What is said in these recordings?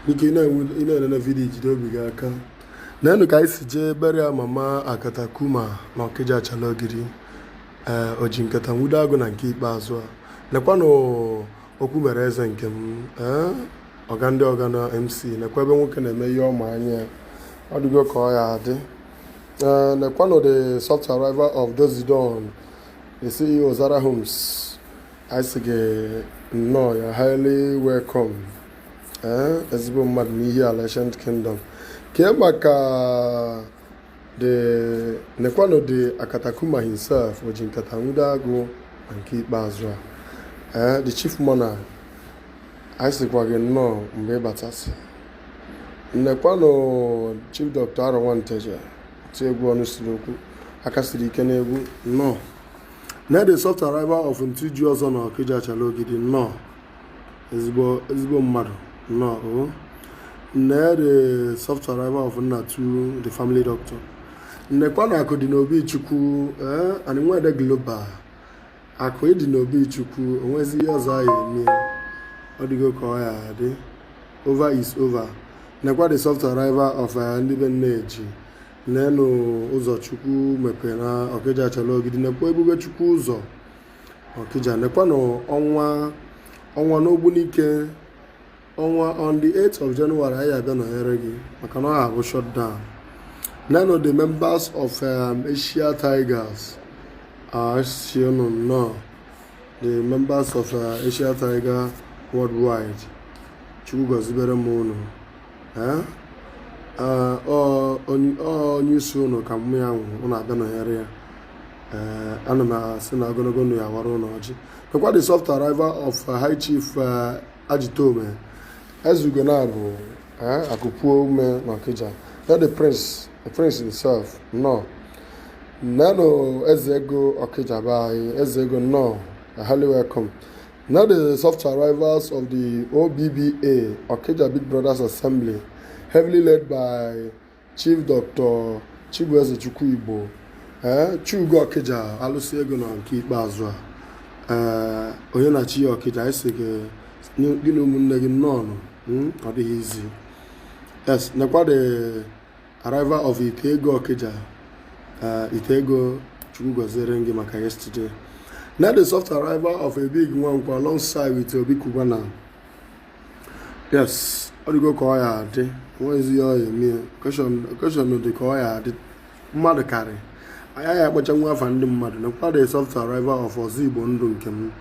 biko ị na-enene vidiyo jide obi gị aka nenụ ka anyị si jee burial mama akatakuma na ọkịja achala ogidi ee eh, oji nkata nwudo agụ na nke ikpeazụ a nekwanụ okwu mere eze nke m ee eh, ọga ndị ọga na mc nekwa ebe nwoke na-eme ihe ọma anya ọ dịgo ka ọ ya adị ee eh, nekwanụ the soft arrival of Dozidon the CEO Zara Homes anyị sị gị nnọọ you're highly welcome ee eh, ezigbo mmadụ n'Ihiala ancient kingdom kee maka the nekwanụ the akatakuma himself oji nkata nwudo agụ na nke ikpeazụ a ee eh, the chief mourner anyị sịkwa gị nnọọ mgbe ị batasị nekwanụ chief dọkta arọ nwanteje oti egwu ọnụ siri okwu aka siri ike n'egwu nnọọ nee the soft arrival of Ntiji ọzọ na Okija Achala Ogidi nnọọ ezigbo ezigbo mmadụ nnọọ o oh. nee the soft arrival of Nnatu the family doctor nekwanụ akụ dị n'obi chukwu ee eh, anyị nwede global akụ dị n'obi chukwu onwezi ihe ọzọ a ya eme ọ dịgo ka ọ ya adị over is over nekwa the soft arrival of eh, ndị be nne eji nenụ ụzọ chukwu mepere na ọkịja achala ogidi nekwa ebube chukwu ụzọ ọkịja nekwanụ ọnwa ọnwa n'ogbunike ọnwa on the 8th of January anyị aga nọnyere gị maka na ọ ya abụ shutdown nenụ the members of um, Asia Tigers asị unu nnọọ the members of uh, Asia Tiger worldwide chukwu gọzibere m unu onye isi unu ka mum ya nwụ unu aga nọnyere ya ana m asị na ogonogo ndụ ya awara unu ọjị nekwa the soft arrival of uh, high chief uh, ajitome ezeugo na-abụ akụpuo ume na ọkịja nee the prince the prince himself nnọọ nenụ eze ego ọkịja be anyị eze ego nnọọ highly welcome Nee the soft arrivals of the OBBA, Okija Big Brothers Assembly, heavily led by Chief Dr. Chibueze Chukwuigbo, eh, Chugo Okija, alụsị ego na nke ikpeazụ a, eh, onye na chi ya Okija, asị gị gị na ụmụnne gị nnọọ hmm, ọ dịghị easy. Yes, nekwa the Arrival of Ite ego Okija. Uh, Ite ego Chukwu gọziere gị maka yesterday. Nee the soft arrival of a big one alongside with Obi Cubana. Yes, ọ dịgo ka ọ ya adị onwezi ihe a ya eme occasion dị ka ọ ya adị mmadụ karị anya ya akpọcha nwa afa ndị mmadụ nekwa the soft arrival of ọzọ igbo ndụ nke m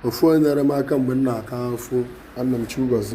ofu onye nyere m aka mgbe m na-aka afụ ana m chukwu gọzi